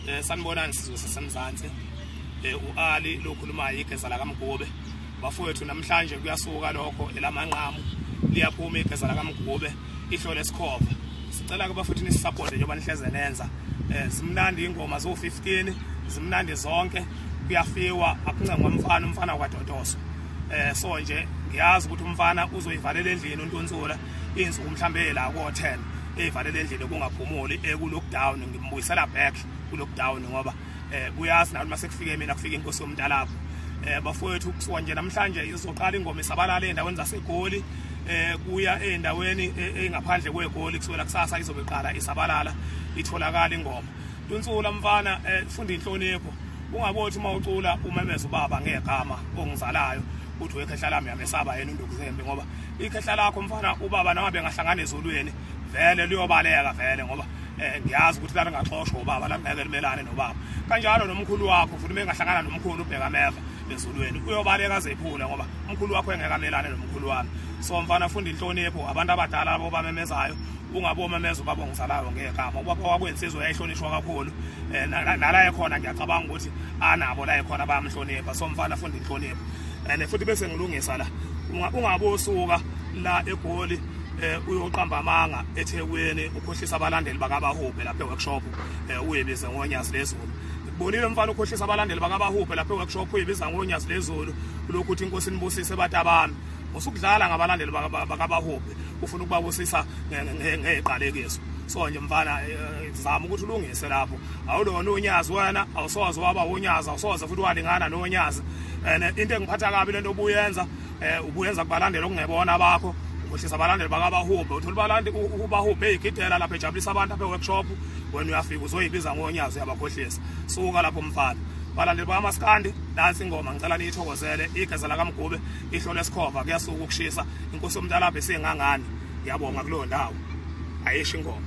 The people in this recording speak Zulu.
Eh sanibonani sizwe sasemzansi eh uAli lokhulumayo igeza la kaMgube bafowethu namhlanje kuyasuka lokho elamanqamu liyaphuma igeza la kaMgube ihlo lesikhova sicela ke bafuthi nisisapporte njengoba nihleze nenza eh simnandi ingoma zo 15 zimnandi zonke kuyafiwa akuncengwa umfana umfana kwadodoso eh so nje ngiyazi ukuthi umfana uzoyivalela endlini untunsula insuku mhlambe la ko 10 eyivalela endlini kungaphumuli eku lockdown ngimbuyisela back ku lockdown ngoba eh kuyazi nathi mase kufike mina kufika inkosi yomntalapho eh bafowethu kusuka nje namhlanje izoqala ingoma isabalala endaweni zasegoli eh kuya endaweni engaphandle kwegoli kusukela kusasa izobe iqala isabalala itholakala ingoma Dunsula mfana eh funda inhlonipho ungabothi uma ucula umemeza ubaba ngegama ongizalayo uthi wekhehla lami yamesaba yena undukuzembe ngoba ikhehla lakho mfana ubaba nawe bengahlangana ezulwini vele luyobaleka vele ngoba eh ngiyazi ukuthi lana ngaxoshwa ubaba la ngeke limelane nobaba kanjalo nomkhulu wakho futhi mengahlangana nomkhulu ubheka meva ezulweni uyobaleka zephula ngoba umkhulu wakho engeke amelane nomkhulu wami so mfana funda inhlonipho abantu abadala labo bamemezayo ungabe omemeza ubaba ongizalayo ngegama ubaba wakwensizwa yayihlonishwa kakhulu eh, nala ekhona ngiyacabanga ukuthi anabo la ekhona bayamhlonipha so mfana funda inhlonipho and futhi bese ngilungisa la ungabe usuka la egoli eh uyoqamba amanga eThekwini ukhohlisa abalandeli bakabahubhe lapha eworkshop eh uyebize ngonyasi lezulu bonile mfana ukhohlisa abalandeli bakabahubhe lapha eworkshop uyebiza ngonyasi lezulu lokhu uthi inkosi nibusise batabami usukudlala ngabalandeli bakabahubhe ufuna ukubabusisa ngeqalekiso so nje mfana eh, eh, zama ukuthi ulungise lapho awulona unyazi wena awusoze waba unyazi awusoze futhi walingana nonyazi and into engiphatha kabi lento obuyenza eh ubuyenza kubalandela okungebona bakho ukhohlisa abalandeli bakabahubhe uthola ubalandi ubahubhe eyigidela lapha ejabulisa abantu apha eworkshop wena uyafika uzoyibiza ngonyazi uyabakhohlisa suka lapho mfana balandeli bakamaskandi nansi ingoma ngicela niyithokozele igeza lakamgube ihlolo esikhova kuyasuka ukushisa inkosi yomntalabhe sengangani ngiyabonga kuleyo ndawo ayisho ingoma